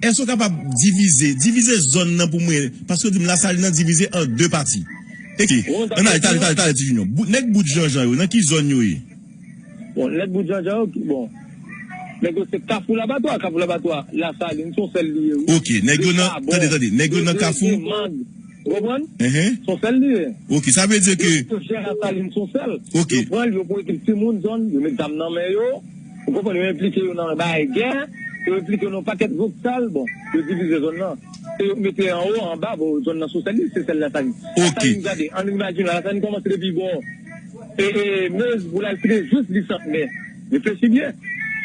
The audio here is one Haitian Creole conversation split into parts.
Èske ou kapab divize, divize zòn nan pou mwen, paske ou di m Lasalin nan divize an 2 pati. Ekri. Bon, An ale, tale, tale, tale ti Junior. Bout, nèg bout Janjan yo, nan ki zòn yo ye? Bon, nèg bout Janjan yo, ki, bon, nèg yo se Kafou Labatwa, Kafou Labatwa, Lasalin, son sèl li ye wi. Ok, nèg yo nan, tande, tande, nèg yo nan Kafou. Ou konprann? Son sèl li ye. Ok, sa vle di ke. Yo chè a salin son sèl. Ok. Yo pran li, yo pote ti moun zòn, yo met zam nan men yo. Ou konprann? Yo enplike yo nan bagay gè. Yo enplike yo nan yon pakèt zòt sal. Bon, yo divize zòn nan. Se yo mete anwo, anba, bon, zòn nan son sèl li, se sèl la salin. Ok. La salin gade, ann imajine, la salin kòmanse depi bò e, e, Meuse pou l al fini jous li Sant. Men, reflechi byen.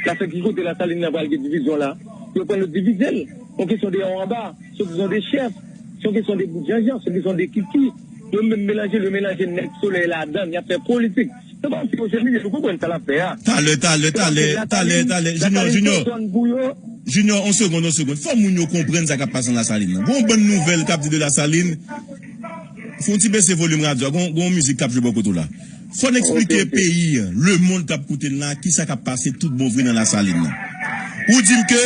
La salin, ki kote la salin nan pral gen divizyon la? Yo pran yo divize l. On kesyon de anwo anba. Swadizan de chèf. Se yon kesyon de bout janjan, se yon kesyon de kiki. Yo menm melanje l, yo melanje nèg Solèy ladan l, y ap fè politik. Se pa yon ti mesye Minis, ou konprann sa l ap fè a. Talè, talè, talè, talè, talè, Jinyò, Jinyò, Jinyò, yon segonn, yon segonn. Fò moun yo konprann sa k ap pase nan Lasalin nan. Gen yon bann nouvèl k ap di de Lasalin. Fè yon ti bese volim radyo a, gen yon mizik k ap jwe bò kote w la. Fò n eksplike peyi an, lemonn k ap koute n la, kisa k ap pase toutbonvre nan Lasalin nan. Ou di m ke.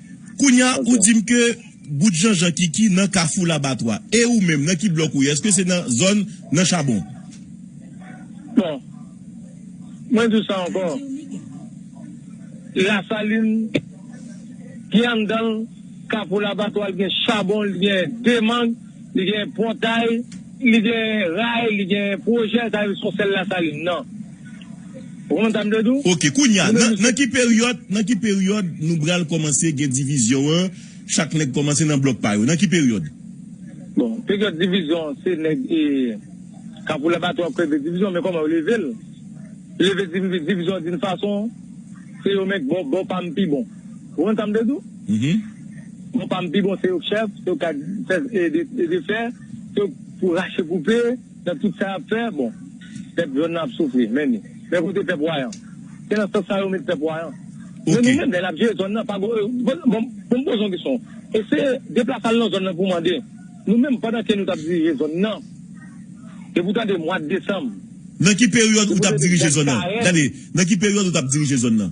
Kounya ou dim ke bout janjan kiki nan kafou labatwa e ou menm nan ki blòk ou ye eske se nan zòn nan chabon. Bon mwen diw sa ankò lasalin ki anndanl kafou labatwa li gen chabon li gen demang. Li gen pòtay, li gen ray, li gen pwojè, sa vle di son sèl Lasalin nan. Ou konprann sa m vle di w? Ok, kounya, nan ki peryòd, nan ki peryòd nou pral kòmanse gen divizyon an, chak nèg kòmanse nan blòk pa yo? Nan ki peryòd? Bon, peryòd divizyon an se nèg e Kapou Labatwè ap kreve divizyon, men kòman yo leve l? Leve divizyon di n fason, se yo menm, bò pa m pi bon. Ou konn sa m vle di w? Mo pa m pi bon se yo k chèf, se yo k ka fè e defè, se yo k pou rache koupe nan tout sa y ap fè. Bon, pèp zòn nan ap soufri, men ni. Men kote pèp wayan? Se nan sans sa a yo met pèp wayan. Men nou menm, lè n ap jere zòn nan, pa gen e Bon m bon m poze yon kesyon. Eseye deplase al nan zòn nan pou w mande, nou menm pandan ke nou t ap dirije zòn nan, depi w tande mwad desanm, Nan ki peryòd ou t ap dirije zòn nan? Tande, nan ki peryòd ou t ap dirije zòn nan?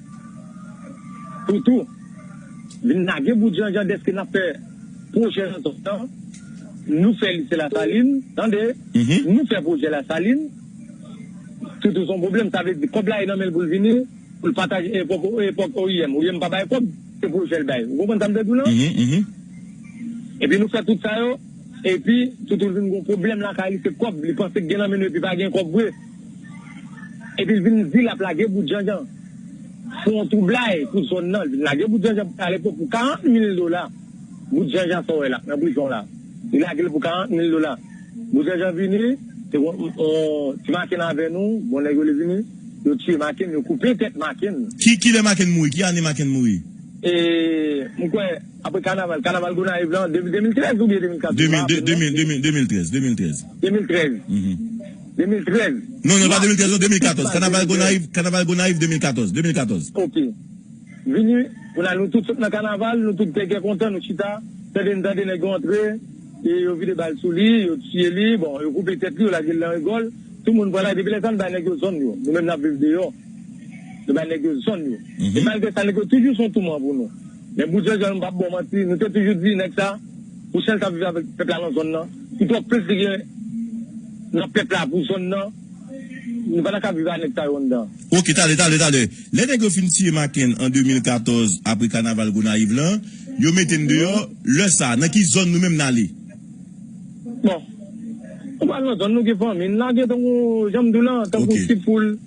Pou tou, vin lage bout janjan dèske n ap fè pwojè nan zòn nan, nou fè lise Lasalin, tande, nou fè pwojè Lasalin, pou tou s on pwoblèm, sa vle di kòb la e nan men l pou l vini, pou l pataje e pòp e pòp oim, oim pa bay kòb, se pwojè l bay. Ou konprann sa m vle di w lan? Epi nou fè tout sa yo, epi tou tou l vin gen on pwoblèm lakay li, se kòb, li panse gen nan men nou epi pa gen kòb vre. Epi l vin di l ap lage bout janjan pou yon twoublay pou zòn nan. L vin lage bout janjan pou Kalekou pou 40 mil dola. Bout janjan sa w wè la nan prizon la. Li lage l pou 40 mil dola. Bout janjan vini, se yon ti Maken avè nou, bon nèg yo li vini, yo tiye Maken, yo koupe tèt Maken. Ki lè Maken mouri? Ki ane Maken mouri? E m kwè apre kanaval, kanaval Gonayiv la an 2013 oubyen 2014 m pa rapple m non. 2013, 2013. 2013. 2013. Non non e pa 2013 non 2014 kanaval gonayiv kanaval gonayiv 2014 2014. Ok vini pou la nou tout sot nan kanaval nou tout gègè kontan nou chita tande n tande nèg yo antre e yo vide bal sou li yo tiye li bon yo koupe tèt li yo lage l nan rigòl tout moun pran la depi lè sa n bay nèg yo zòn yo nou menm n ap viv deyò nou bay nèg yo zòn yo e malgre sa nèg yo toujou son touman pou nou. Men bout janjanl mpap baw manti nou te toujou di nèg sa pou sel sa viv avèk pèp la nan zòn nan pou twòp plis li gen nan pèp la pou zòn nan nou pa ta ka viv a nèg sa yo anndan. Ok talè talè talè lè nèg yo fin tiye makenn an 2014 apre kanaval gonayiv lan yo metenn deyò lè sa nan ki zòn nou menm nale. Bon Nou pral nan zòn nou gen fanmi n lage tankou janm diw lan tankou ti poul.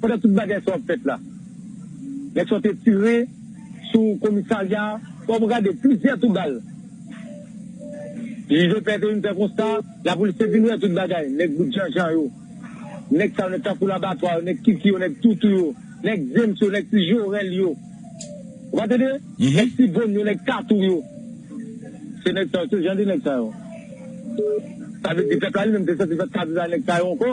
Pandan tout bagay sa ap fèt la, nèg sa yo te tire sou komisarya a. Bon, pou gade, plizyè tou bal. Jij Lepè te vin fè konsta, lapolis te vin wè tout bagay, nèg bout janjan yo, nèg sa yo, nèg tankou Labatwa yo, nèg Kiki yo, nèg Toutou yo, nèg James yo, nèg Ti Jorèl yo. Ou pa tande? Nèg Ti Von yo, nèg Tatou yo. Se nèg sa yo, se jan de nèg sa yo. Sa vle di pèp la li menm te santi l pa t ka viv avèk nèg sa yo ankò.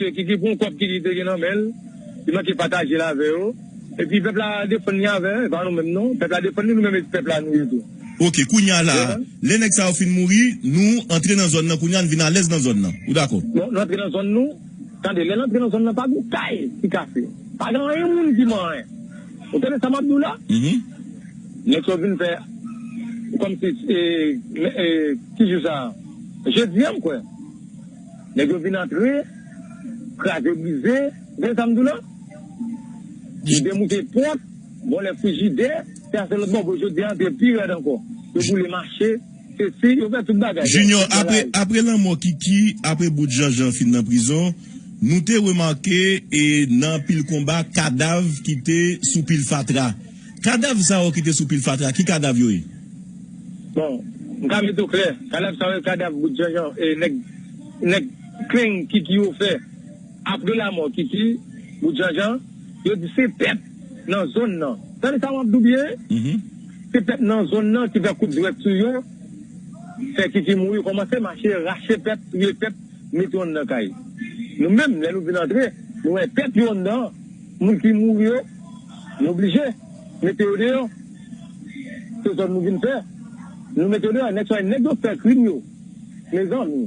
Sè Kiki pran kòb Kiki te gen nan men l, li manke pataje l avè yo. Epi pèp la defann li avè, e pa nou menm non. Pèp la defann li, nou menm e pèp la nou ye tou. Ok, kounye a la a, lè nèg sa yo fin mouri, nou antre nan zòn nan kounye a, n vin alèz nan zòn nan. Ou dakò? Bon, n antre nan zòn nou. Tande, lè n antre nan zòn nan, pa gen kay ki kase. Pa gen anyen moun ki man anyen. Ou tande sa m ap di w la? Nèg sa yo vin fè kòmsi, e, ki jou sa a? Jedi a, m kwè. Nèg yo vin antre, kraze brize, gen sa m di w lan? Yo demouke pòt, vòlè frijidè, se a se lòt bò, jodi a antre pi rèd ankò. Yo boule mache, sesi, yo fè tout bagay. Jinyò, apre, apre lanmò Kiki, apre bout Janjan fin nan prizon, nou te remake e nan anpil konba kadav ki te sou pil fatra. Kadav sa yo ki te sou pil fatra, ki kadav yo ye? Bon, m ka mete w klè, kadav sa yo e kadav bout janjan e nèg nèg kleng Kiki yo fè apre lamò Kiki bout janjan. Yo di se pèp nan zòn nan, tande sa w ap di w byen, se pèp nan zòn nan ki fè kout zwèt sou yo, fè Kiki mouri, kòmanse mache rache pèp, touye pèp, mete yo anndan kay. Nou menm, lè nou vin antre, nou wè pèp yo anndan. Moun ki mouri yo, yo blije mete yo deyò. Se zòn nou vin fè, nou mete yo deyò. Nèg sa yo, nèg yo fè krim yo, mezanmi,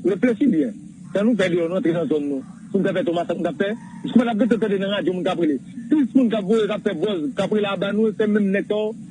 reflechi byen. Sa nou fè deyò, nou antre nan zòn nou pou n fè fè Toma sa nou t ap fè? Kouman n ap rete tande nan radyo moun k ap rele? Plis moun k ap voye, k ap fè bòz, k ap rele aba nou, se menm nèg sa yo.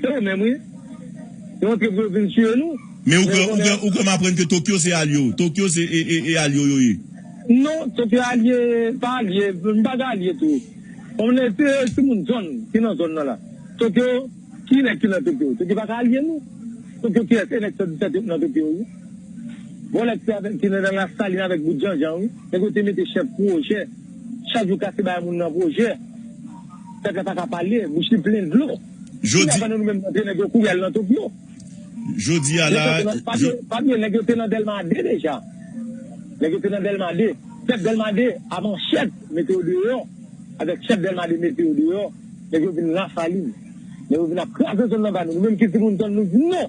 Se yo menm wi. Yo antre pou yo vin tiye nou. Men ou kwè m aprann ke Tokyo se alye w. Tokyo se e alye w yo ye. Non, Tokyo alye, pa alye, m pa gen alye tou. Bon men se ti moun zòn ki nan zòn nan la. Tokyo, ki nèg ki nan Tokyo? Tokyo pa ka alye nou. Tokyo ki lès e nèg 117 yo ki nan Tokyo wi. Vòlè ki avèk ki nan Lasalin avèk bout Janjan wi. Nèg yo te mete chèf pwojè. Chak jou kase bay moun nan pwojè. Pèp la paka pale, bouch li plen dlo. Jodi. Kounya pandan nou menm n antre nèg yo kouri al nan Tokyo. Jodi a la. Pa bliye nèg yo te nan Dèlma 2 deja. Nèg yo te nan Dèlma 2. Pèp Dèlma 2 a manchèt mete yo deyò. Avèk chèf Dèlma 2 mete yo deyò. Nèg yo vin Lasalin. Nèg yo vin ap kraze zòn nan ba nou. Nou menm ki timoun zòn nou di non.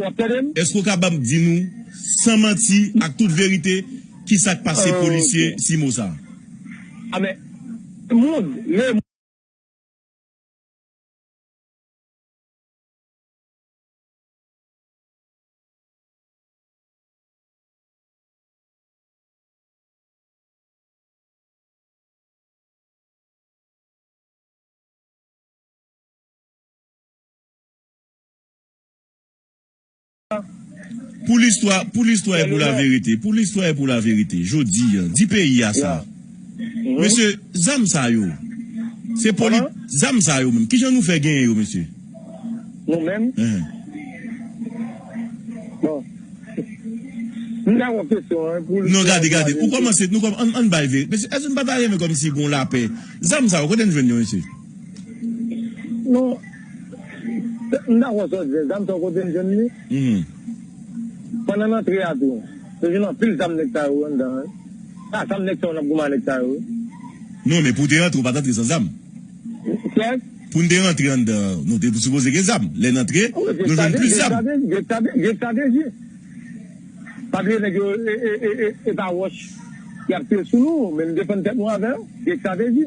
Wap tande m? Eske ou kabab di nou san manti ak tout verite ki sak pase polisye Simo sa? A men moun le. Pou listwa, pou listwa e pou laverite, pou listwa e pou laverite, jodi an, di peyi a sa, mesye, zam sa yo, se poli, zam sa yo menm, ki jan nou fè genyen yo, mesye? Nou menm? Bon, m ta wont kesyon an, pou listwa. Non, gade, gade, ou kòmanse, nou kòm, ann bay ve, mesye, èske nou pa ta renmen kòmsi gon lapè? Zam sa yo, kote n jwenn yo, mesye? Non. M dakò sa w di, zam sa w kote l jwenn li? Pandan n antre a tou, nou jwenn anpil zam nèg sa yo anndan an. Se a zam nèg sa yo n ap goumen a nèg sa yo wi. Non, men pou w te rantre ou pa t antre san zam. Kèk. Pou n te rantre anndan an, nou te sipoze gen zam. Lè n antre, nou jwenn plis zam. Grek sa te di. Pa bliye nèg yo e pa wòch y ap tire sou nou, men nou defann tèt nou avè yo. Grek sa te di.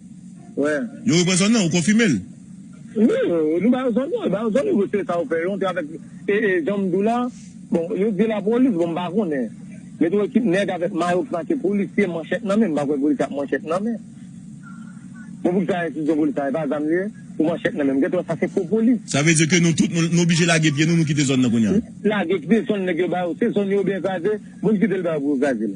Wè. Yo repran zòn nan, ou konfime l? Wi, nou ba yo zòn nan, yo ba yo zòn nan, yo se sa yo fè, yo antre avèk, e, e, jan m di w la, bon, yo di lapolis, bon m pa konnen. Met yon ekip nèg avèk mayo ki make polisye, manchèt nan men, m pa kwè polisye ak manchèt nan men. Bon pou ki sa enstitisyon polis sa, e pa zam li ye? Pou manchèt nan men, m gen tan wè sa se fo polis. Sa vle di ke nou tout, nou oblije lage pye nou, nou kite zòn nan kounye a? Lage, kite zòn nèg yo ba yo, se zòn yo oubyen kraze, bon kite l ba yo pou yo kraze l.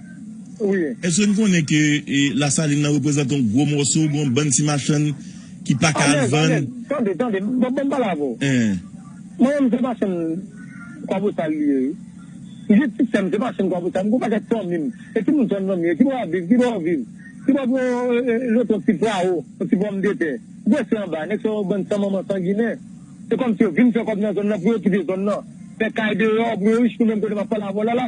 Wi. Eske n konnen ke Lasalin nan reprezante yon gwo mòso, gen yon bann ti machann ki pa ka al vann? Alèz, alèz. Tande, tande. Bon, ban m pale avè w. Mwen menm, se pa chenn Kwabosal li ye, wi. M gen ti sè m, se pa chenn Kwabosal. M gen yon pakèt fanmi m e timoun sè m nan m ye, ki bò y ap viv, ki bò yo viv, ki bò pou yo jete yon ti prawo, yon ti pòmdetè. Gwosè anba. Nèg sa yo, yon bann san manman, san ginen. Se kòmsi yo vin fè kòb nan zòn nan pou yo okipe zòn nan, fè kay deyò pou yo rich. Nou menm, kote m ap pale avè w la la,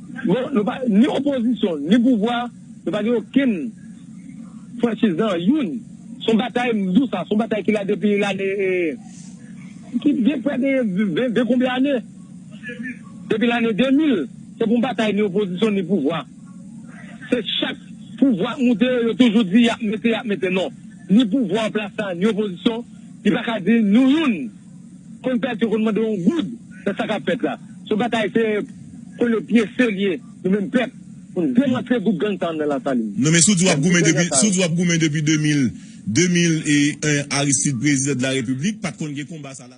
Non, nou pa ni opozisyon, ni pouvwa, nou pa gen okenn franchiz nan anyoun. Se yon batay, m di w sa, se yon batay ki la depi lane, ki gen prè de ven konbyen ane, depi lane 2000. Se pa yon batay ni opozisyon, ni pouvwa. Se chak pouvwa k moute, yo toujou di y ap mete, y ap mete. Non, ni pouvwa an plas la, ni opozisyon, li pa ka di nou youn. konn pèdi yo konn mande yon goud nan sa kap fèt la son batay se konn yo pye serye nou menm pèp poun demantle gwoup gang sa yo nan lasalin Non men si w di wap goumen depi si w di wap goumen depi 2000 2001 Aristide prezidan de la repiblik pat konn gen konba sa la.